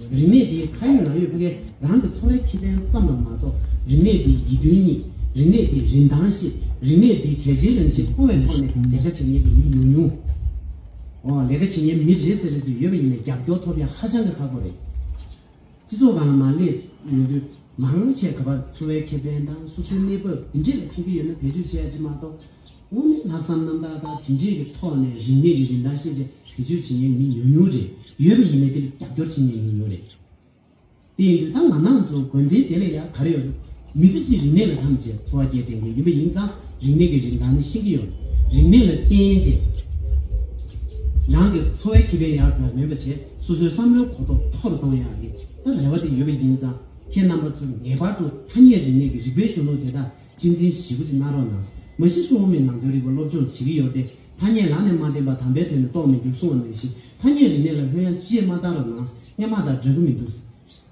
རིག་གནས་འདིའི་མཐའ་ཡས་ནང་ཡོད་པ་འགས་རང་གི་འཚོ་བའི་ཁེ་ཕན་ཙམ་ལ་མ་གཏོགས་རིག་གནས་འདིའི་ཡིད་རྟོན་གཉིས། རིག་གནས་འདིའི་རིན་ཐང་བཞི། རིག་གནས་འདིའི་གལ་ཆེའི་རང་བཞིན་མཐོང་བའི་ཐོག་ནས་ལས་ཀ་བྱེད་མཁན་གྱི་མི་ཉུང་ཉུང། འོ་ལས་ཀ་བྱེད་མཁན་མི་རེ་རྩེ་རེ་ཚོ་ཡོད་པ་ཡིན་ན་རྒྱབ་སྐྱོར་ཐོབ་ཡ་ཧ་ཅང་གི་ཁག་པོ་རེད། སྤྱི་ཚོགས་གང་ལ་མ་སླེབས་ཡོང་དུས་མང་ཆེས་ག་པར་འཚོ་བའི་ཁེ་ཕན་དང་སོ་སོའི་གནས་བབ་འདི་འདྲས་ལ་ཕན་གྱི་ཡོད་ན་བེད་སྤྱོད་བྱེད་ཡ་ཅི་མ་གཏོགས་དངོས་གནས་ལྷག་བསམ་རྣམ་དག་དང་མཐུན་སྒྲིལ་གྱི་ཐོག་ནས་རིག་གནས་ཀྱི་རིན་ཐང་ཤེས་བྱ་བེད་སྤྱོད་བྱེད་མཁན་མི་ཉུང་ཉུང་རེ་ཡོད་པ་ཡིན་ནའི་དེ་ལ་རྒྱབ་སྐྱོར་བྱེད་མཁན་ཉུང་ཉུང་རེད། དེ་ཡིན་དུས་ད་ང་ནང་ཚོ་དགོན་སྡེ་དེ་ལས་ཡག་ག་རེ་ཡོད་རུང་མི་ཚེ་གཅིག་རིག་གནས་ལ་ཐམས་ཅད་འཚོ་བ་སྐྱེལ་འདོད་མཁན་ཡིན་པ་ཡིན་ཙང་རིག་གནས་ཀྱི་རིན་ཐང་ནི་ཤིན་གྱི་ཡོད། རིག་གནས་ལ་བརྟེན་རྗེས་རང་གི་འཚོ་བའི་ཁེ་ཕན་ཡག་དག་མེད་པ་བྱས་སོ་སོའི་བསམ་བློའི་གོ་རྟོགས་མཐོ་རུ་གཏོང་ཡག་གི་ད་རེ་བ་དེ་ཡོད་པ་ཡིན་ཙང་ཁྱེད་རྣམ་པ་ཚོ་ངེས་པར་དུ་ཐ་སྙད་རིག་གནས་ཀྱི་རིག་པའི་གཞོན་ནུ་དེ་དག་གཅེས་འཛིན་བཞི་པོ་ཅིག་གནང་རོགས་གནང། མ་གཞི་གསུང་ཨོ་མའི་ནང་དོན་རིག་པ་སློབ་སྦྱོང་བྱེད་ཀྱི་ཡོད་དེ། ཐ་སྙད་ལག་ནས་མ་བསྟན་པ་དམ་པའི་དོན་ནི་རྟོགས་མི་འགྱུར་གསུང་བ་ནང་བཞིན་ཐ་སྙད་རིག་གནས་ལ་ལྷོད་ཡངས་ཅི་ཡེ་མ་བཏང་རོགས་གནང། སྙན་མ་དང་འདྲ་གི་མི་འདུག།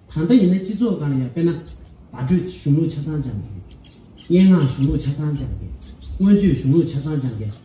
ད་ལྟ་ཡིན་ན་སྤྱི་ཚོགས་གང་ལ་ཡང་དཔེར་ན། བརྡ་སྤྲོད་གཞུང་ལུགས་ཆ་ཚང་སྦྱངས་མཁན། སྙན་ངག་གཞུང་ལུགས་ཆ་ཚང་སྦྱངས་མཁན། མངོན་བརྗོད་གཞུང་ལུགས་ཆ་ཚང་སྦྱངས་མཁན།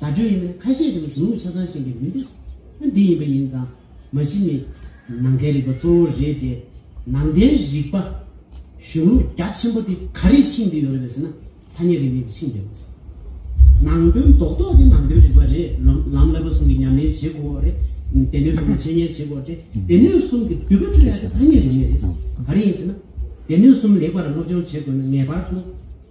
བརྡ་སྤྲོད་ཡིན་ན་ཁ་ཤས་ཀྱང་གཞུང་ལུགས་ཆ་ཚང་ཤེས་མཁན་མི་འདུག་ཨ་འདི་ཡིན་པ་ཡིན་ཙང་མ་གཞི་ནི་ནང་བསྟན་རིག་པ་གཙོ་བོ་རེད་དེ། ནང་བསྟན་རིག་པ་གཞུང་ལུགས་རྒྱ་ཆེན་པོ་དེ་ག་རེས་འཆིང་བསྡད་ཡོད་རེད་པས་ཟེར་ན་ཐ་སྙད་རིག་གནས་ཀྱིས་འཆིང་བསྡད་པས་སོ། ནང་དོན་རྡོག་རྡོག་དེ་ནང་དོན་རིག་པ་རེད་ལམ་བསླབ་པ་གསུམ་གྱི་ཉམས་ལེན་བྱེད་དགོས་རེད། སྡེ་སྣོད་གསུམ་ལ་འཆད་ཉན་བྱེད་དགོས་རེད་སྡེ་སྣོད་གསུམ་གྱི་བསྡུས་པ་སྤྲོད་ཡག་དེ་ཐ་སྙད་རིག་གནས་རེད། ག་རེ་ཡིན་ཟེར་ན། སྡེ་སྣོད་གསུམ་ལེགས་པར་སློབ་སྦྱོང་བྱེད་དགོས་ན་ངེས་པར་དུ།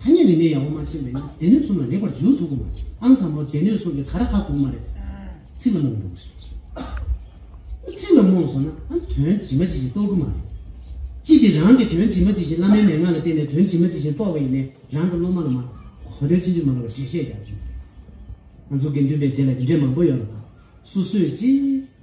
ཐ་སྙད་མི་སྣའི་ཡ་བོ་མ་བྱས་མེད་ན་སྡེ་སྣོད་གསུམ་ལ་ལེགས་པར་འཇུག་ཐུབ་གི་མ་རེད་ཨང་དང་པོར་སྡེ་སྣོད་སོགས་ཀྱི་ཁ་ར་ཁ་གུག་མ་རེད་ཚིག་ལ་རྨོངས་འགྲོ་གི་རེད་ཚིག་ལ་རྨོངས་སོང་ན་ཨང་དོན་ཇི་མ་ཇི་བཞིན་རྟོགས་གི་མ་རེད་ཅི་སྟེ་རང་གིས་དོན་ཇི་མ་ཇི་བཞིན་བླ་མའི་མན་ངག་ལ་བརྟེན་ནས་དོན་ཇི་མ་ཇི་བཞིན་རྟོགས་པ་ཡིན་ནའི་རང་གི་སློབ་མ་ལ་མ་གོ་དོན་ཕྱིན་ཅི་མ་ལོག་པ་འགྲེལ་བཤད་རྒྱག་གི་མ་རེད་ང་ཚོ་དགེ་འདུན་པའི་སྡེ་ལ་འདི་འདྲའི་མང་པོ་ཡོད་ལ་སུ་སོས་ཅི།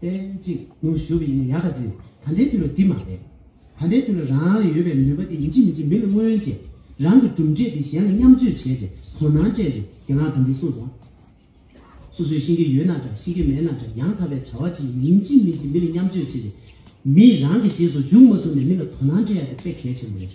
པན་གཅིག་ནོ་ཞུ་བ་ཡིན་ན་ཡག་ག་ཚེ། ད་ལྟའི་དུས་ལ་འདི་མ་རེད། ད་ལྟའི་དུས་ལ་རང་ལ་ཡོད་པའི་ནུས་པ་དེ་མི་འཇིགས་མི་འཇིགས་མི་ལ་མངོན་བྱས། རང་གི་གྲུབ་འབྲས་དེ་གཞན་ལ་མཉམ་སྤྱོད་བྱས་ཚེ་དོ་སྣང་སྤྲད་ཚེ་དགེ་ལགས་ད་འདི་གསུངས་སོང། སོ་སོའི་ཤེས་ཀྱི་ཡོད་ན་འདྲ་ཤེས་ཀྱི་མེད་ན་འདྲ་ཡང་དག་པའི་བྱ་བ་ཅི་ཡིན་མི་འཇིགས་མི་འཇིགས་མི་ལ་མཉམ་སྤྱོད་བྱས་ཚེ། མིས་རང་གི་རྗེས་སུ་འཇུག་མ་ཐུབ་ནས་མི་ལ་དོ་སྣང་སྤྲད་ཡ་དེ་དཔེ་གལ་ཆེན་པོ་རེད།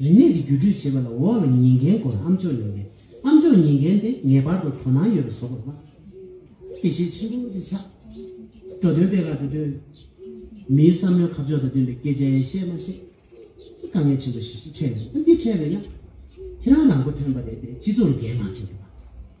རིག་གནས་ཀྱི་བརྒྱུད་སྤྲོད་བྱེད་པ་ལ་འོག་ལ་ཉན་མཁན་སྐོར་ཨམ་ཅོག་ཉན་མཁན་ཨམ་ཅོག་ཉན་མཁན་དེ་ངེས་པར་དུ་དོ་སྣང་ཡོད་པ་བཟོ་དགོས་པ་དེ་ཤེས་ཆེན་པོ་ཅིག་ཆགས། འགྲོ་དོན་དཔེ་ལ་འགྲོ་དོན། མིའི་བསམ་བློའི་ཁ་ཕྱོགས་དང་བསྟུན་པའི་སྐད་ཆ་ཡན་ཤེས་མ་ཤེས། དཀའ་ངལ་ཆེན་པོ་ཞིག་ཅིག་འཕྲད་འདུག་འདི་འཕྲད་མེད་ན་ཁྱེད་རང་རང་མགོ་ཐོན་པ་རེད་དེ་སྤྱི་ཚོགས་ལ་འགན་མ་འཁྱེར་དགོས་པ།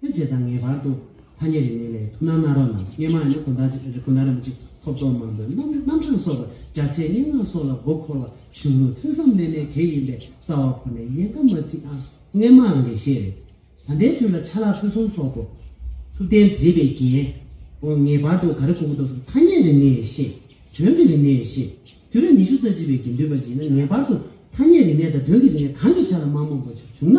ཐུན་རྗེས་དང་ངེས་པར་དུ་ཐ་སྙད་རིགས་མིན་ལས་ཐུན་སྣང་སྣ་རོགས་རྣམས་སྙེ་མ་ཡང་ན་གོ་མདའ་གཅིག་གོ་མདའ་རིན་པོ་ཆེ་ཐོབ་ཐོབ་མང་པོའི་རྣམ་རྣམ་གྲངས་སོགས་པར་བརྒྱ་ཚད་སྙན་ངག་སོགས་ལ་མགོ་འཁོར་བ་གཞུང་ལུགས་ཐོས་བསམ་རྣལ་མའི་གེགས་ཡིན་པས་རྩ་བ་ཁོ་ནས་ཡན་ཀ་མ་ཚིག་ཨ། སྙན་མང་ལེགས་བཤད་རེད། ད་ལྟའི་དུས་ལ་ཆ་ལག་ཕུན་སུམ་ཚོགས་པོ། ཐུབ་བསྟན་མཛེས་པའི་རྒྱན། འོ་ངེས་པར་དུ་ག་རེ་གོ་གོ་ཐོག་སོགས་ཐ་སྙད་རིགས་མིན་ལས་ཤེས། དོན་གྱི་རིག་གནས་ལས་ཤེས། དུས་རབས་ཉི་ཤུ་རྩ་གཅིག་པའི་དགེ་འདུན་པ་ཞིག་ཡིན་ན་ངེས་པར་དུ་ཐ་སྙད་རིག་གནས་དང་དོན་གྱི་རིག་གནས་གང་གི་ཆ་ལ་མག་མོག་པོ་ཆུག་བྱུང་ན་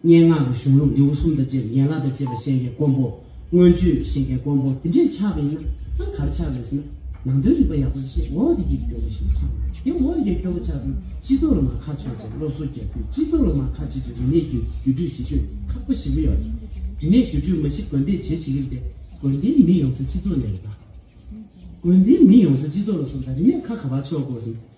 སྙན་ངག་གི་གཞུང་ལུགས་ལེའུ་གསུམ་དང་བཅས་པའི་ཡན་ལག་དང་བཅས་པ་ཤེས་མཁན་དཀོན་པོ། མངོན་བརྗོད་ཀྱི་ཤེས་མཁན་དཀོན་པོ་དེ་འདྲས་ཆགས་པ་ཡིན་ན་ཧང་གར་ཆགས་རེད་ཟེར་ན། ནང་དོན་རིག་པ་ཡག་པོ་ཤེས་འོ་འདི་གྱིས་སྐྱོ་བོ་ཞིག་ཆགས་འདུག་དེ་འོ་འདི་གྱིས་སྐྱོ་བོ་ཆགས་ཚུན་སྤྱི་ཚོགས་ལ་མ་ཁ་ཕྱོགས་རྗེས་སློབ་གསོ་རྒྱག་དུས་སྤྱི་ཚོགས་ལ་མ་ཁ་བྱེད་ཅིག་རིག་གནས་བརྒྱུད་བརྒྱུད་སྤྲོད་བྱེད་དུས་ཁག་པོ་ཞིག་ཡོད་རེད། རིག་གནས་བརྒྱུད་སྤྲོད་མ་གཞི་དགོན་སྡེས་བྱེད་བྱེད་ཀྱི་རེད་དེ་དགོན་སྡེའི་མི་ཡོང་ས་སྤྱི་ཚོགས་ནས་རེད་ད། དགོན་སྡེའི་མི་ཡོང་ས་སྤྱི་ཚོགས་ལ་སོང་ད་རིག་གནས་ཁ་ག་བར་ཕྱོགས་དགོས་ཟེར་ན།